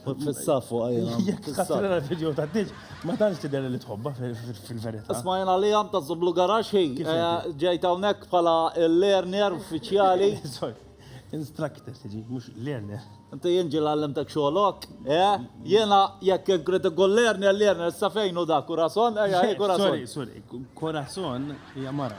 Fissa fuq għajna. Jek tara l-video ta' diġ, ma tantx tidher li tħobba fil-verità. Isma' jena li għam ta' zublu garax hi. Eh, Ġejt hawnhekk bħala learner uffiċjali. Instructor tiġi, mhux learner. Inti jien ġil għallimtek xogħolok, eh? Jena jekk inkrid ikun learner, learner sa fejn u da, kurason, ejja, kurason. Sorry, sorry, kurason hija mara.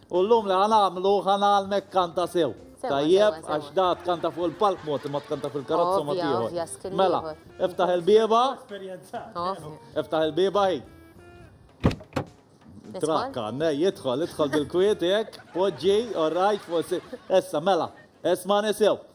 U llum li ħa nagħmlu, ħa ngħallmek tkanta sew. Tajjeb, għax da tkanta fuq il-palk mod imma tkanta fil-karozza mod ieħor. Mela, iftaħ il-bieba. Iftaħ il-bieba hi. Trakka, nej, jidħol, jidħol bil-kwiet jekk, poġġi, orrajt, forsi. Issa, mela, esma' nisew.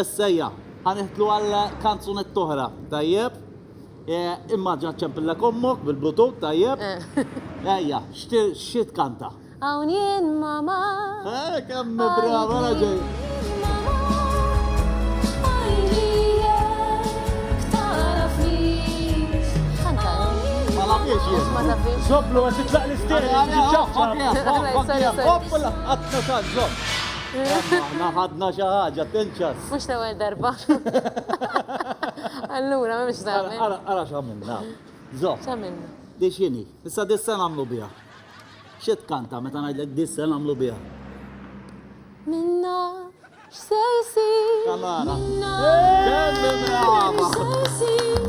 Essejja, ħa nidħlu għal kanzunetta oħra, tajjeb? Imma ġa ċempillek ommok bil-bluetooth, tajjeb? Ejja, xi tkanta? Hawn jien mama. Eh, kemm brava, mela ġej. Zoblu, għet titlaq l-isteri, ġiċċaċċa. Zoblu, għet titlaq l-isteri, ġiċċaċċa. Aħna ħadna xi ħaġa tinċas. Mhux l-ewwel darba. Allura mhux tagħmel. Ara ara x'għamilna. Żomm. X'għamilna? Di x'inhi? Issa di se nagħmlu biha. Xi tkanta meta ngħidlek di se nagħmlu biha? Minna x'se jsir? Kamara. Minna x'se jsir?